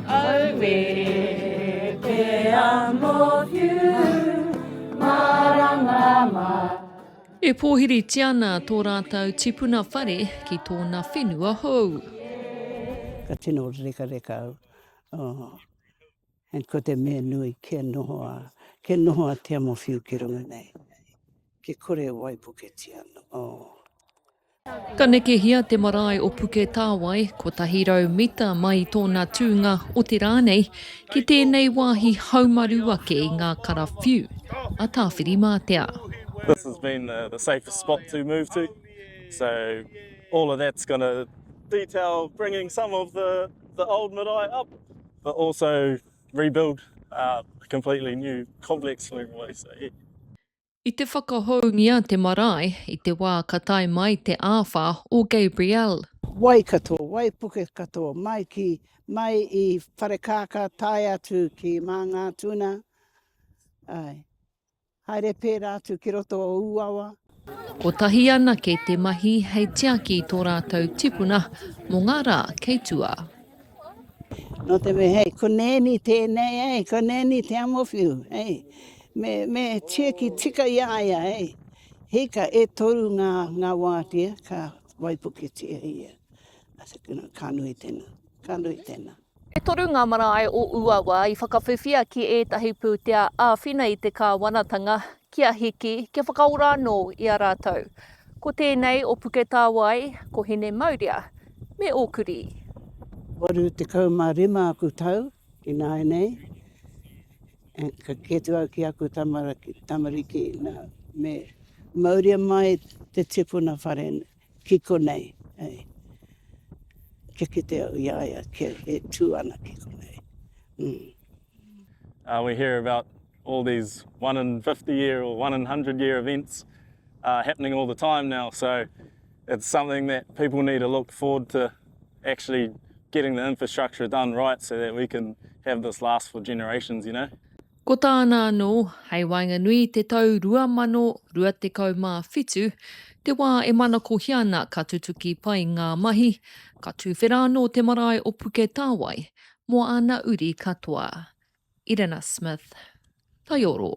Aue te amohiu marama ma. E pōhiritia ana tō rātou tipuna whare ki tōna whenua hou. Ka tino rekareka au. Oh. And ko te mea nui, kia noho a, kia noho a te amohiu ki runga nei. Kia kore e waipuketia ana. Oh. Ka nekehia te marae o Puketāwai, 100 mita mai i tōna tūnga, otirā nei, ki tēnei wāhi haumaru ake i ngā karawhiu a Tāwhirimātea. This has been the safest spot to move to, so all of that's going to detail bringing some of the old marae up, but also rebuild a completely new complex for everyone to stay here. I te whakahoungia te marae i te wā ka tae mai te āwha o Gabrielle. Wai katoa, wai puke katoa, mai ki, mai i Wharekākā tae atu ki Māngātuna, āe, haere pērā atu ki roto o Ūawa. Kotahi anake te mahi hei tiaki i tō rātou tipuna mō ngā rā kei tua. Nō te mea, hei, ko nēni tēnei, hei, ko nēni te amowhiu, hei. Me, me tieki tika i a ia, hei. Hika, e toru ngā, ngā wātea ka waipuketia ia. I said, you know, ka nui tēnā, ka nui tēnā. E toru ngā marae o Uawa i whakawhiwhia ki ētahi pūtea āwhina i te kāwanatanga kia hiki, kia whakaora anō i a rātou. Ko tēnei o Puketāwai, ko Hinemaurea me Ōkurī. 85 aku tau ināianei. Ka kite atu au ki aku tamariki, nā, me mauria mai te tipuna whare ki konei, hei, kia kite au i a ia, kia e tū ana ki konei. Mm. Uh, we hear about all these one in 50 year or one in 100 year events uh, happening all the time now, so it's something that people need to look forward to actually getting the infrastructure done right so that we can have this last for generations, you know. Ko tāna anō, hei waenganui i te tau 2027, te wā e manakohia ana ka tutuki pai ngā mahi, ka tūwhera anō te marae o Puketāwai mō ana uri katoa. Irena Smith. Taioro.